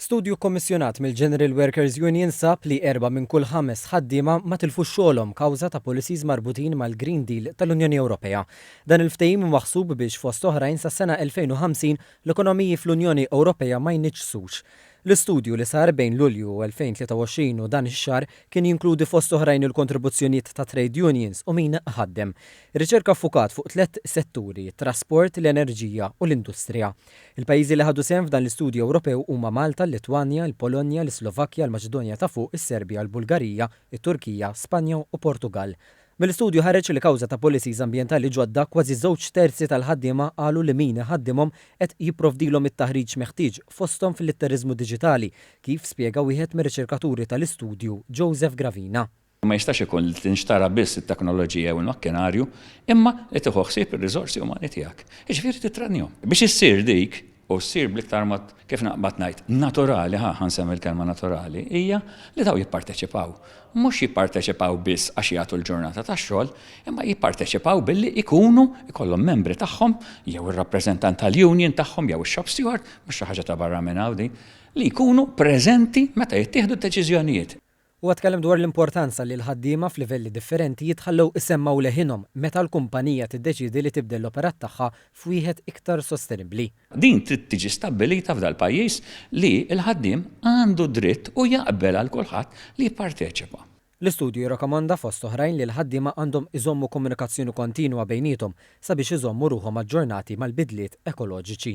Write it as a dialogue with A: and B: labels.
A: Studju kkommissjonat mill-General Workers Union sab li erbgħa minn kull ħames ħaddiema ma tilfux xogħolhom kawża ta' policies marbutin mal-Green Deal tal-Unjoni Ewropea. Dan il-ftehim hu maħsub biex, fost oħrajn, sas-sena 2050 l-ekonomiji fl-Unjoni Ewropea ma jniġġsux. L-istudju, li sar bejn Lulju 2023 u dan ix-xahar, kien jinkludi fost oħrajn il-kontribuzzjonijiet ta' trade unions u min iħaddem. Ir-riċerka ffukat fuq tliet setturi, it-trasport, l-enerġija u l-industrija. Il-pajjiżi li ħadu sehem f'dan l-istudju Ewropew huma Malta, l-Litwanja, il-Polonja, l-Islovakkja, l-Maċedonja ta' Fuq, is-Serbja, l-Bulgarija, it-Turkija, Spanja u Portugall. Mill-istudju ħareġ li kawża ta' policies ambjentali ġodda, kważi żewġ terzi tal-ħaddiema qalu li min iħaddimhom qed jipprovdilhom it-taħriġ meħtieġ, fosthom fil-litteriżmu diġitali, kif spjega wieħed mir-riċerkaturi tal-istudju, Joseph Gravina. Ma jistax ikun
B: li tinxtara biss it-teknoloġija jew il-makkinarju, imma li tieħu ħsieb ir-riżorsi umani tiegħek, jiġifieri tittrenjhom. Biex issir dik, u ssir bl-iktar mod, kif naqbad ngħid, naturali, ħa, ħa nsemmi l-kelma naturali, hija li dawn jipparteċipaw. Mhux jipparteċipaw biss għax jagħtu l-ġurnata tax-xogħol, imma jipparteċipaw billi jkunu, ikollhom membri tagħhom, jew ir-rappreżentant tal-union tagħhom jew ix-shop steward, mhux xi ħaġa ta' barra minn hawn din, li jkunu preżenti meta jittieħdu d-deċiżjonijiet. Huwa tkellem dwar
A: l-importanza li l-ħaddiema f'livelli differenti jitħallew isemmgħu leħinhom meta l-kumpanija tiddeċiedi li tibdel l-operat tagħha f'wieħed iktar sostenibbli. Din trid tiġi
B: stabbilita f'dal-pajjiż li l-ħaddiem għandu d-dritt u jaqbel għal kulħadd li jipparteċipa. L-istudju
A: jirrakomanda fost oħrajn li l-ħaddiema għandhom iżommu komunikazzjoni kontinwa bejniethom sabiex iżommu ruħhom aġġornati mal-bidliet ekoloġiċi.